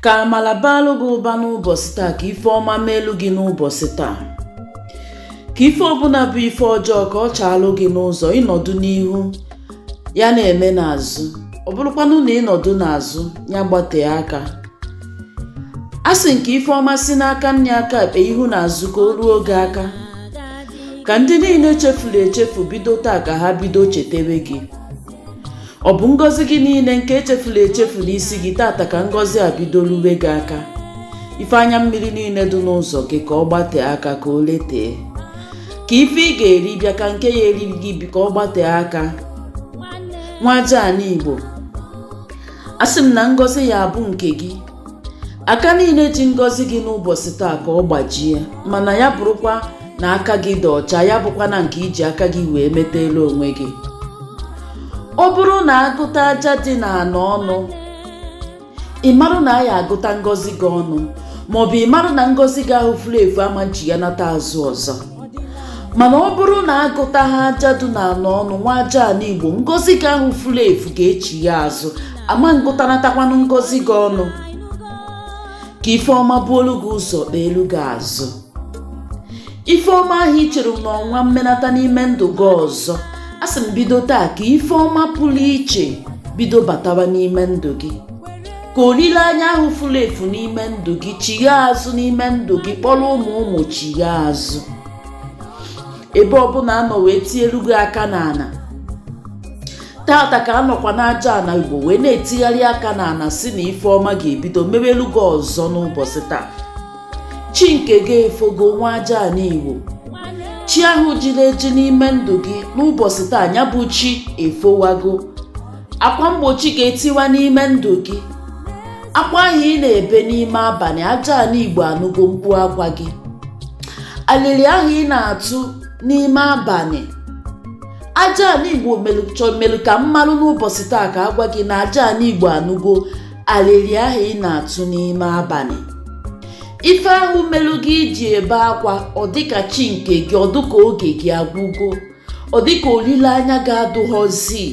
Ka amala baalụ gị ụba n'ụbọsị taa ka ife ọma meelu gị n'ụbọsị taa ka ife ọbụna bụ ife ọjọọ ka ọ chaalụ gị n'ụzọ ị nọdụ n'ihu ya na-eme n'azụ ọ bụrụkwanụ na ị nọdụ n'azụ ya gbatee aka asị m ka ife ọma si n'aka nni aka ekpe ihu na azụ ka o ruo gị aka ka ndị niile chefuru echefu bido taa ka ha bido chetewe gị ọ bụ ngọzi gị niile nke e chefuru echefu n'isi gị taata ka ngọzi a bido ruwe gị aka ife anya mmiri niile dị n'ụzọ gị ka ọ gbatee aka ka o letee ka ife ị ga-eri bịa ka nke ya-eri gị biko ka ọ gbatee aka nwa aja ana igbo asị m na ngọzi ya-abụ nke gị aka niile ji ngọzi gị n'ụbọsị taa ka ọ gbajie mana ya bụrụkwa na aka gị dị ọcha ya abụkwana nke i ji aka gị wee metaalụ onwe gị ọ bụrụ na a gụta aja dị n'ana ọnụ ị marụ na a ya-agụta ngọzi gị ọnụ maọbụ ị marụ na ngọzi gị ahụ fulu efu ama nchighanata azụ ọzọ mana ọ bụrụ na agụtaha aja dị n'ana ọnụ nwa aja ana igbo ngọzi gị ahụ fulu efu ga-echigha azụ ama ngụtanatakwanụ ngọzi gị ọnụ ka ife ọma buolu gị ụzọ kpeelu gị azụ ife ọma ahụ i chere na ọ ma mmenata n'ime ndụ gị ọzọ asị m bido taa ka ife ọma pụlụ iche bido batawa n'ime ndụ gị ka olileanya ahụ fulu efu n'ime ndụ gị chigha azụ n'ime ndụ gị kpọrọ ụmụ ụmụ chigha azụ ebe ọbụna a nọ wee tielu gị aka n'ana taata ka a nọkwa n'aja ana igbo wee na-etigharị aka n'ana sị na ife ọma ga-ebido meweelu gị ọzọ n'ụbọsị taa chi nke gị efogo nwa aja ana igbo chi ahụ jiri eji n'ime ndụ gị n'ụbọsị taa ya bụ chi efowago akwa mgbochi ga-etiwa n'ime ndụ gị akwa ahụ ị na-ebe n'ime abanị aja ana igbo anụgo mkpu akwa gị alịlị ahụ ị na-atụ n'ime abanị aja ana igbo melu ka m marụ n'ụbọsị taa ka a gwa gị na aja ana igbo anụgo alịlị ahụ ị na-atụ n'ime abanị ife ahụ melu gị iji ebe akwa ọ dịka chi nke gị ọ dịka oge gị agwụgo ọ dịka olileanya gị adụghọzi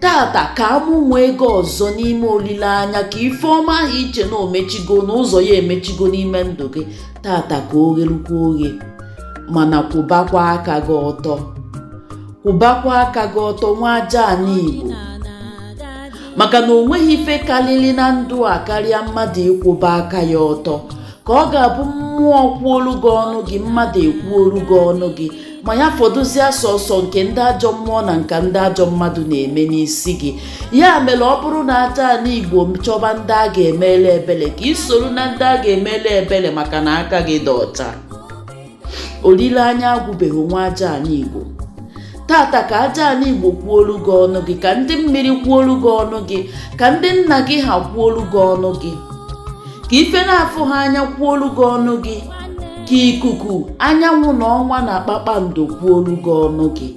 taata ka a mụnwee gị ọzọ n'ime olileanya ka ife ọma ahụ i che na o mechigo na ụzọ ya emechigo n'ime ndụ gị taata ka o ghelukwa oghe mana kwụbakwa aka gị ọtọ kwụbakwa aka gị ọtọ nwa aja ana igbo maka na o nweghị ife karịrị na ndụ a karịa mmadụ ịkwụba aka ya ọtọ ka ọ ga-abụ mmụọ kwuolu gị ọnụ gị mmadụ ekwuolu gị ọnụ gị ma ya fọdụzie sọsọ nke ndị ajọ mmụọ na nke ndị ajọ mmadụ na-eme n'isi gị ya mere ọ bụrụ na aja ana igbo chọba ndị a ga-emelu ebele ka i soro na ndị a ga-emelu ebele maka na aka gị dị ọcha olileanya agwụbeghị nwa aja ana igbo tata ka aja ana igbo kwuolu gị ọnụ gị ka ndị mmiri kwuolu gị ọnụ gị ka ndị nna gị ha kwuolu gị ọnụ gị ka ife na-afụ ha anya kwuolu gị ọnụ gị ka ikuku anyanwụ na ọnwa na kpakpando kwuolu gị ọnụ gị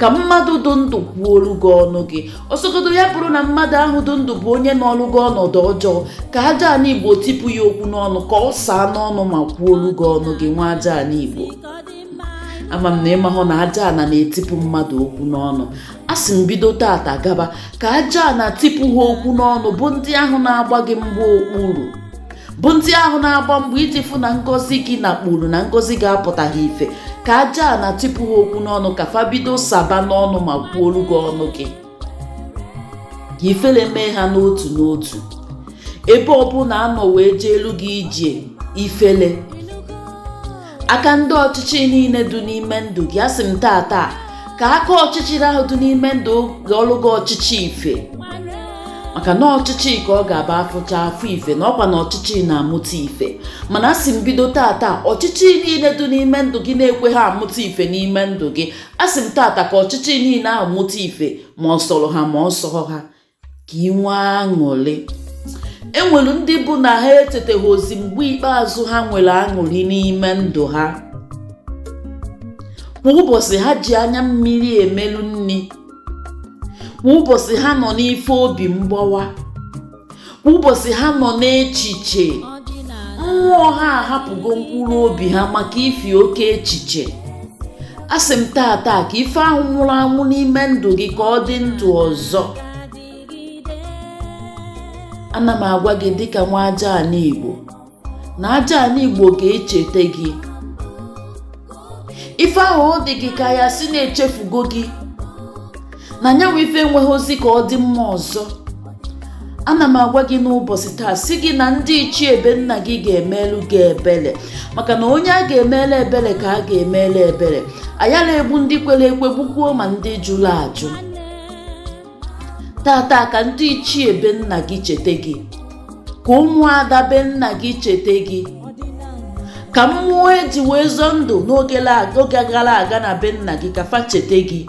ka mmadụ dị ndụ kwuolu gị ọnụ gị ọ sọgodu ya bụrụ na mmadụ ahụ dị ndụ bụ onye nọlụ gị ọnọdụ ọjọọ ka aja ana igbo tipụ ya okwu n'ọnụ ka ọ saa n'ọnụ ma kwuolu gị ọnụ gị nwa aja ana igbo ama m na ị mahụ na aja ana na-etipụ mmadụ okwu n'ọnụ asị m bido tata gaba ka aja ana tipụ ha okwu n'ọnụ bụ ndị ahụ na-agba gị mgba okpuru bụ ndị ahụ na-agba mbọ iji fụ na ngọzi gị nakpuru na ngọzi gị apụtaghị ife ka aja ana tipụ ha okwu n'ọnụ ka fa bido saba n'ọnụ ma kwuolu gị ọnụ gị ka ifele mee ha n'otu n'otu ebe ọbụla a nọ wee jeelu gị ije ifele aka ndị ọchịchị niile dị n'ime ndụ gị asị m taa taa ka aka ọchịchịrị ahụ dị n'ime ndụ gị ghọlụ gị ọchịchị ife maka na ọchịchị ka ọ ga-aba afụcha afụ ife na ọkwa na ọchịchị na-amụta ife mana asị m bido tata ọchịchị niile dị n'ime ndụ gị na-ekweghị amụta ife n'ime ndụ gị asị m tata ka ọchịchị niile ahụ mụta ife ma ọ sọrọ ha ma ọ sọrọ ha ka i nwee aṅụrị enwere ndị bụ na ha echeteghịzi mgbe ikpeazụ ha nwere aṅụrị n'ime ndụ ha kwa ụbọchị ha ji anya mmiri emelu nri kwa ụbọchị ha nọ n'ife obi mgbawa kwa ụbọchị ha nọ n'echiche mmụọ ha ahapụgo mkpụrụ obi ha maka ifi oke echiche asị m taa taa ka ife ahụ nwụrụ anwụ n'ime ndụ gị ka ọ dị ndụ ọzọ ana m agwa gị dịka nwa aja ana igbo na aja ana igbo ga-echete gị ife ahụ ọ dị gị ka a ya-asị na echefugo gị na nyanwa ife enweghịzi ka ọ dị mma ọzọ ana m agwa gị n'ụbọchị taa sị gị na ndị ichie be nna gị ga-emelu gị ebele maka na onye a ga-emelu ebele ka a ga-emelu ebele ayala egbu ndị kwere ekwe gbukwuo ma ndị jụrụ ajụ tata ka ndị ichie be nna gị chete gị ka ụmụada be nna gị chete gị ka mmụọ eji wee zọọ ndụ n'oge gara aga na be nna gị ka fa chete gị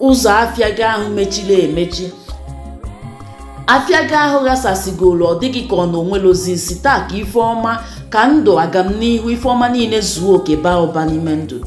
ụzọ afịa gị ahụ mechiri emechi afịa gị ahụ ghasasịgoro ọ dị gị ka ọ na o nwerọzi isi taa ka ife ọma ka ndụ agamnihu ife ọma niile zuo oke baa ụba n'ime ndụ